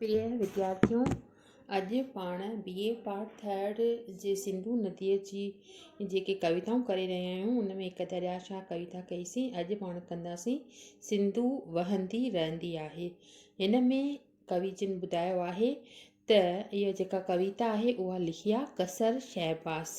پريا وديارٿيو! اڄ پاڻ بي اي پارٽ ٿرڊ جي سنڌو نديء جي جيڪي ڪويتائون ڪري رهيا آهيون ان ۾ هڪ دريا شاهه ڪويتا ڪئيسين اڄ پاڻ ڪنداسين سنڌو وهندي رهندي آهي هن ۾ ڪوي جن ٻڌايو آهي ته اها جيڪا ڪويتا آهي اها لکي آهي قصر شهباز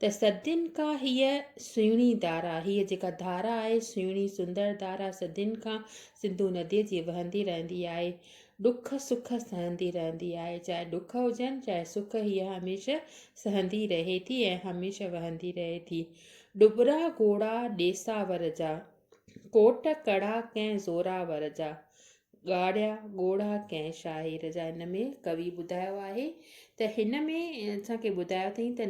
ته صدين کان هيء سهڻي ڌارا، هيء جيڪا ڌارا آهي، سهڻي سندر ڌارا صدين کان سنڌو نديء جي وهندي رهندي آهي. ڏک سک سهندي رهندي آهي. چاهي ڏک هجن، چاهي سک هيء هميشه سهندي رهي ٿي ۽ هميشه وهندي رهي ٿي. ڏٻرا گهوڙا ڏيساور جا، ڪوٽ ڪڙا ڪنهن زوراور جا. ڳاڙهيا ڳوڙها ڪنهن شاعر جا هن ۾ ڪوي ٻڌايو آهي ته هن ۾ اسان کي ٻڌايو اٿئين ته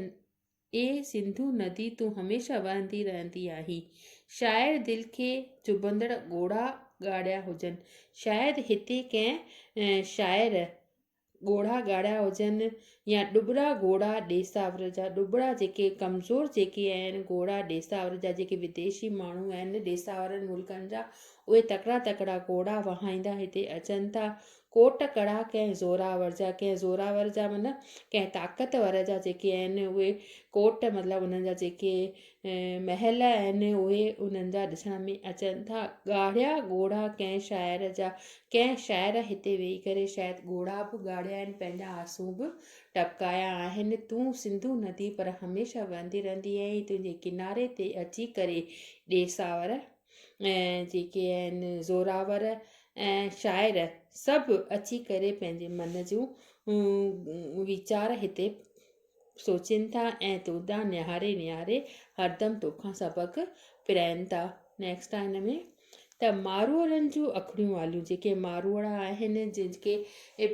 اي سنڌو ندي تون هميشه وهندي رهندي آهين شاعر دل کي چڀندڙ ڳوڙها ڳاڙهيا هجن شايد هتي ڪنهن شاعر ڳوڙها ڳاڙها هجن يا ڏٻرا ڳوڙها ڏيساور جا ڏٻرا جيڪي ڪمزور جيڪي آهن ڳوڙها ڏيساور جا جيڪي ويديشي ماڻهو آهن ڏيساورن ملڪن جا اهي تڪڙا تڪڙا ڳوڙها وهائيندا هتي اچن ٿا ڪوٽ ڪڙا ڪنهن زوراور جا ڪنهن زوراور جا مطلب ڪنهن طاقتور جا جيڪي آهن اهي ڪوٽ مطلب انهن جا جيڪي محل آهن، اهي انهن جا ڏسڻ ۾ اچن ٿا. ڳاڙهيا ڳوڙها ڪنهن شاعر جا؟ ڪنهن شاعر هتي ويهي ڪري شايد ڳوڙها به ڳاڙهيا آهن، پنهنجا آنسون به ٽپڪايا آهن. تون سنڌو ندي پر هميشه وهندي رهندي آهين، تنهنجي ڪناري تي اچي ڪري ڏيساور ۽ جيڪي آهن زوراور ۽ شاعر سڀ اچي ڪري پنهنجي من جون ويچار هتي سوچين ٿا ۽ تو ڏانهن نهاري نهاري هردم توکان سبق پرائين ٿا. Next آ هن ۾ ته ماروئڙن جون اکڙيون واليون جيڪي ماروئڙا آهن جن کي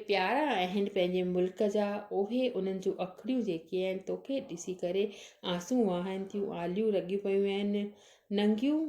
پيارا آهن پنهنجي ملڪ جا اهي انهن جون اکڙيون جيڪي آهن توکي ڏسي ڪري آنسون وهائن ٿيون آليون لڳيون پيون آهن ننگيون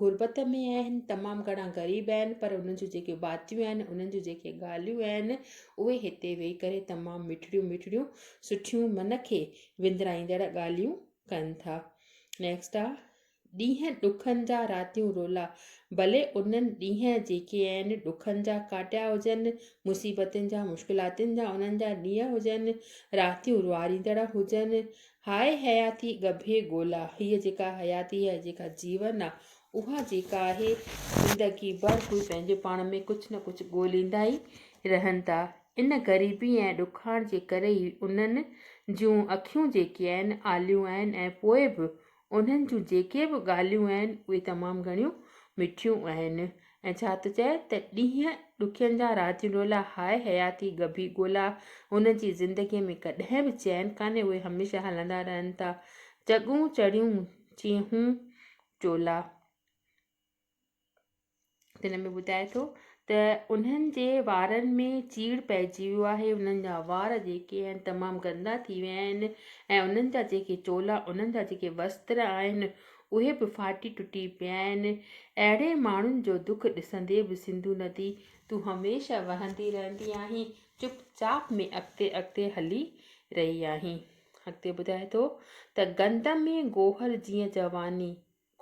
غربت ۾ آهن تمام گهڻا غريب آهن پر انهن جون جيڪي باتيون آهن انهن جون جيڪي ڳالهيون آهن اهي هتي ويهي ڪري تمام مٺڙيون مٺڙيون سٺيون من کي وندرائيندڙ ڳالهيون ڪن ٿا نيڪسٽ آ ڏينهن ڏکن جا راتيون رولا ڀلي انهن ڏينهن جيڪي آهن ڏکن جا ڪاٽيا هجن مصيبتن جا مشڪلاتن جا انهن جا ڏينهن هجن راتيون رواريندڙ هجن هاء حياتي ڳڀي ڳولا، هيء جيڪا حياتي آهي، جيڪا جيون آهي، اها جيڪا آهي، زندگي ڀر ڪوئي پنهنجي پاڻ ۾ ڪجهه نه ڪجهه ڳوليندا ئي رهن ٿا. ان غريبي ۽ ڏکاڻ جي ڪري ئي انهن جون اکيون جيڪي آهن، آليون آهن ۽ پوء به انهن جون جيڪي به ڳالهيون آهن، اهي تمام گهڻيون مٺيون آهن. ۽ ڇا ٿو چئي ته ڏينهن ڏکين جا رات رولا هاء حياتي ڳڀي ڳولا هن جي زندگيء ۾ ڪڏهن به چين ڪانهي اهي هميشه هلندا رهن ٿا چڳون چڙيون چيهون چولا تن ۾ ٻڌائي ٿو ته انهن جي وارن ۾ چيڙ پئجي ويو آهي انهن جا وار جيڪي آهن تمام گندا ٿي ويا آهن ۽ انهن جا جيڪي چولا انهن جا جيڪي وستر آهن اهي به ڦاٽي ٽٽي پيا آهن. اهڙي ماڻهن جو دک ڏسندي به سنڌو ندي تون هميشه وهندي رهندي آهين چپ چاپ ۾ اڳتي اڳتي هلي رهي آهين. اڳتي ٻڌائي ٿو ته گند ۾ گوهر جيئن جواني،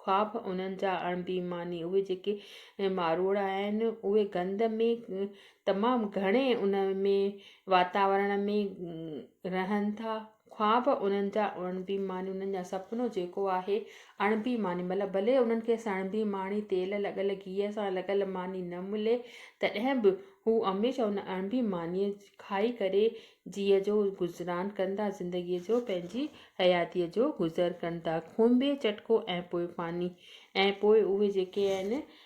خواب انهن جا اڻ بي ماني اهي جيڪي ماروئڙا آهن اهي گند ۾ تمام گهڻي ان ۾ واتاورڻ ۾ رهن ٿا خواب انهن جا اڻ بي معني انهن جا سپنو جيڪو آهي اڻ بي معني مطلب ڀلي انهن کي سڻ بي ماڻي تيل لڳل گيهه سان لڳل ماني نه ملي تڏهن به هو هميشه ان اڻ بي مانيء کائي ڪري جيء جو گذران ڪن ٿا زندگيء جو پنهنجي حياتيء جو گذر ڪن ٿا کونبي چٽڪو ۽ پوء پاني ۽ پوء اهي جيڪي آهن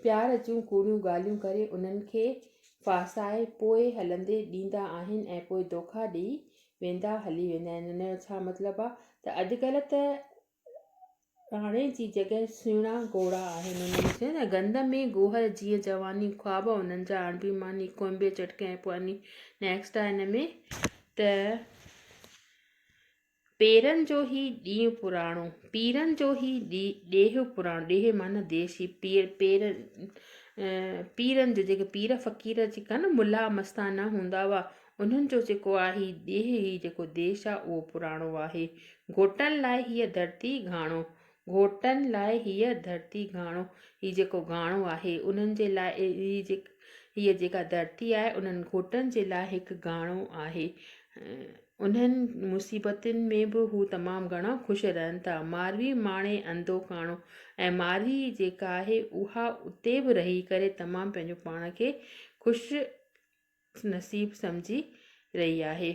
پيار جون ڪوڙيون ڳالهيون ڪري انهن کي ڦاسائي پوء هلندي ڏيندا آهن ۽ پوء دوکا ڏئي ويندا هلي ويندا آهن ان جو ڇا مطلب آهي ته اڄڪلهه ته راڻي جي جڳهه سهڻا گهوڙا آهن انهن ۾ چيو نه گند ۾ گوهر جيئن جواني خواب انهن جا اڻبي ماني ڪوئمبي چٽڪي ۽ پوء انهي نيڪسٽ آهي ان ۾ ته پيرن جو هي ڏينهن پراڻو، پيرن جو هي ڏيهه پراڻو، ڏيهه معنيٰ ديس هي پير پير پيرن جو جيڪي پير فقير جيڪا نه ملا مستانا هوندا هئا انهن جو جيڪو آهي هي ڏيهه هي جيڪو ديس آهي اهو پراڻو آهي گهوٽن لاء هيء ڌرتي گهاڻو گهوٽن لاء هيء ڌرتي گهاڻو، هي جيڪو گهاڻو آهي، انهن جي لاء هيء جيڪا ڌرتي آهي، انهن گهوٽن جي لاء هڪ گهاڻو آهي. انهن مصيبتن ۾ به هو تمام گهڻا خوش رهن ٿا. ماروي ماڻي انڌو ڪاڻو ۽ ماروي جيڪا آهي، اها اتي به رهي ڪري تمام پنهنجو پاڻ کي خوش نصيب سمجهي رهي آهي.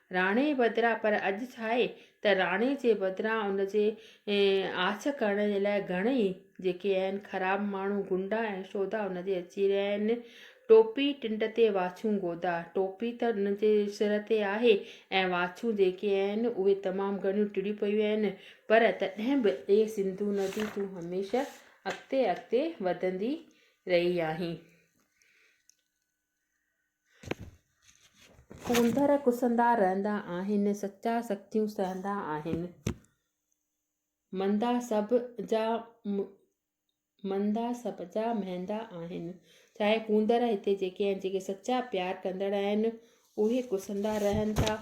راڻي بدران پر اڄ ڇاهي ته راڻي جي بدران ان جي آڇ ڪرڻ جي لاء گهڻئي جيڪي آهن خراب ماڻهو گنڊا ۽ شودا ان جي اچي رهيا آهن. ٽوپي ٽنڊ تي واڇون گودا. ٽوپي ته ان جي سر تي آهي ۽ واڇون جيڪي آهن اهي تمام گهڻيون ٽڙيون پيون آهن پر تڏهن به اي سنڌو ندي تون هميشه اڳتي اڳتي وڌندي رهي آهين. ڪونڌر ڪسندا رهندا آهن، سچا سختيون سهندا آهن. مندا سڀ جا مندا سڀ جا مهندا آهن. چاهي ڪونڌر هتي جيڪي آهن جيڪي سچا پيار ڪندڙ آهن اهي ڪسندا رهن ٿا.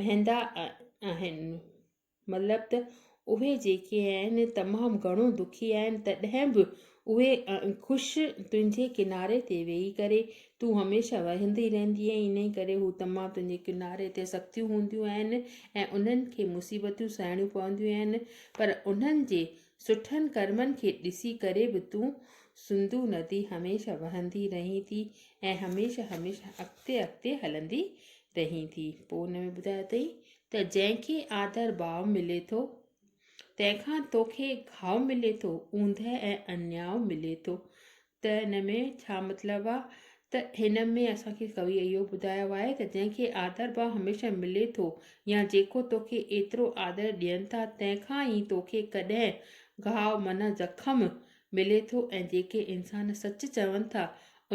مهندا آهن مطلب ته اهي جيڪي آهن تمام گهڻو دکي آهن تڏهن به اهي خوش تنهنجي ڪناري تي ويهي ڪري تون هميشه وهندي رهندي آهي انهي ڪري هو تمام تنهنجي ڪناري تي سختيون هونديون آهن ۽ انهن کي مصيبتون سهڻيون پونديون آهن پر انهن جي سٺن ڪرمن کي ڏسي ڪري به تون سنڌو ندي هميشه وهندي رهين ٿي ۽ هميشه هميشه اڳتي اڳتي هلندي رهين ٿي پوء ان ۾ ٻڌايو اٿئي ته جنهن کي آڌر ڀاء ملي ٿو تنهن کان توکي گهاء ملي ٿو اوندهه ۽ انياء ملي ٿو ته ان ۾ ڇا مطلب آ ته هن ۾ اسان کي ڪويء اهو ٻڌايو آهي ته جنهن کي آڌر ڀاء هميشه ملي ٿو يا جيڪو توکي ايترو آڌر ڏين ٿا تنهن کان ئي توکي ڪڏهن گهاء معنيٰ زخم ملي ٿو ۽ جيڪي انسان سچ چون ٿا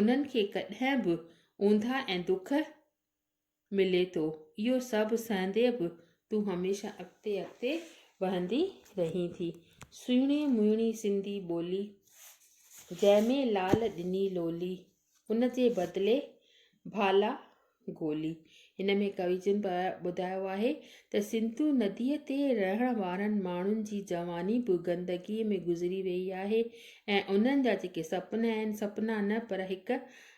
انهن کي ڪڏهن به اونداهه ۽ دک ملي ٿو. اهو سڀ سهندي به تون هميشه اڳتي اڳتي وهندي رهين ٿي. سهڻي مهڻي سنڌي ٻولي، جنهن ۾ لال ڏني لولي، ان جي بدلي ڀالا گولي. هن ۾ ڪوي جن ٻڌايو آهي ته سنڌو نديء تي رهڻ وارن ماڻهن جي جواني به گندگيء ۾ گذري ويئي آهي ۽ انهن جا جيڪي سپنا آهن، سپنا نه پر هڪ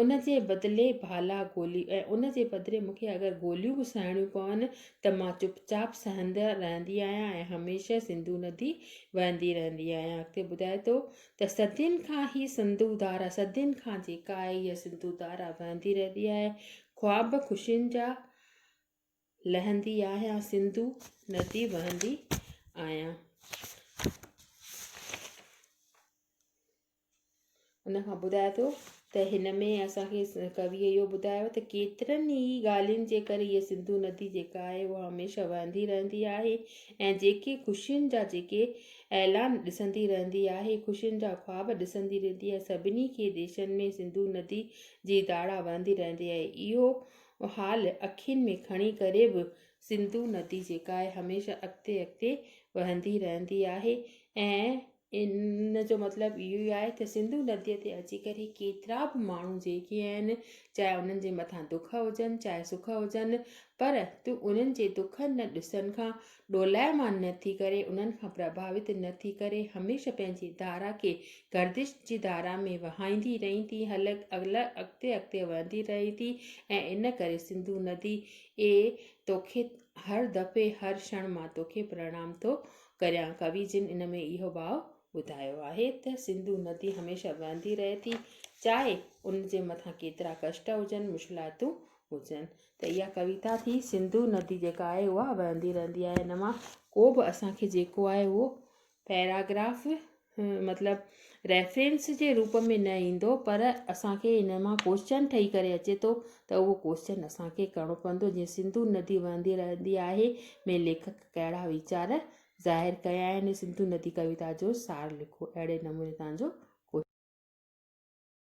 ان جي بدلي ڀالا گولي ۽ ان جي بدلي مون کي اگر گوليون به سهڻيون پون ته مان چپ چاپ سهندي رهندي آهيان ۽ هميشه سنڌو ندي وهندي رهندي آهيان اڳتي ٻڌائي ٿو ته صدين کان هي سنڌو ڌارا صدين کان جيڪا آهي هيء سنڌو ڌارا وهندي رهندي آهي خواب خوشين جا لهندي آهيان سنڌو ندي وهندي آهيان ان کان ٻڌائي ٿو ته هن ۾ اسان کي ڪويء اهو ٻڌايو ته ڪيترن ئي ڳالهين جي ڪري هيء سنڌو ندي جيڪا آهي هو هميشه وهندي رهندي آهي ۽ جيڪي خوشين جا جيڪي اعلان ڏسندي رهندي آهي خوشين جا خواب ڏسندي رهندي آهي سڀني کي ديشن ۾ سنڌو ندي جي ڌاڙا وهندي رهندي آهي اهو حال اکين ۾ کڻي ڪري به سنڌو ندي جيڪا آهي هميشه اڳتي اڳتي وهندي رهندي آهي ۽ ان جو مطلب اهو ئي آهي ته سنڌو نديء تي اچي ڪري ڪيترا به ماڻهو جيڪي آهن چاهي انهن جي مٿان دک هجن چاهي سک هجن پر تون انهن جي دکن نه ڏسن کان ڏولائمان نه ٿي ڪري انهن کان پرڀاوت نه ٿي ڪري هميشه پنهنجي ڌارا کي گردش جي ڌارا ۾ وهائيندي رهين ٿي هل اڳتي اڳتي وهندي رهين ٿي ۽ ان ڪري سنڌو ندي اي توکي هر دفعي هر شڻ مان توکي پرڻام ٿو ڪريان ڪوي جن ان ۾ اهو ڀاء ٻڌايو آهي ته سنڌو ندي هميشه وهندي رهي ٿي چاهي ان جي مٿان ڪيترا ڪشٽ هجن مشڪلاتون هجن ته اها ڪويتا ٿي سنڌو ندي جيڪا آهي اها وهندي رهندي آهي ان مان ڪو به اسان کي جيڪو آهي اهو پيراگراف مطلب ريفرنس جي روپ ۾ نه ايندو پر اسانکي ان مان ڪوشچن ٺهي ڪري اچي ٿو ته اهو ڪوشچن اسانکي ڪرڻو پوندو جيئن سنڌو ندي وهندي رهندي آهي ۾ ليکڪ ڪهڙا ويچار ظاهر ڪيا آهن سنڌو ندي ڪويتا جو سار لکو اهڙي نموني تنهنجو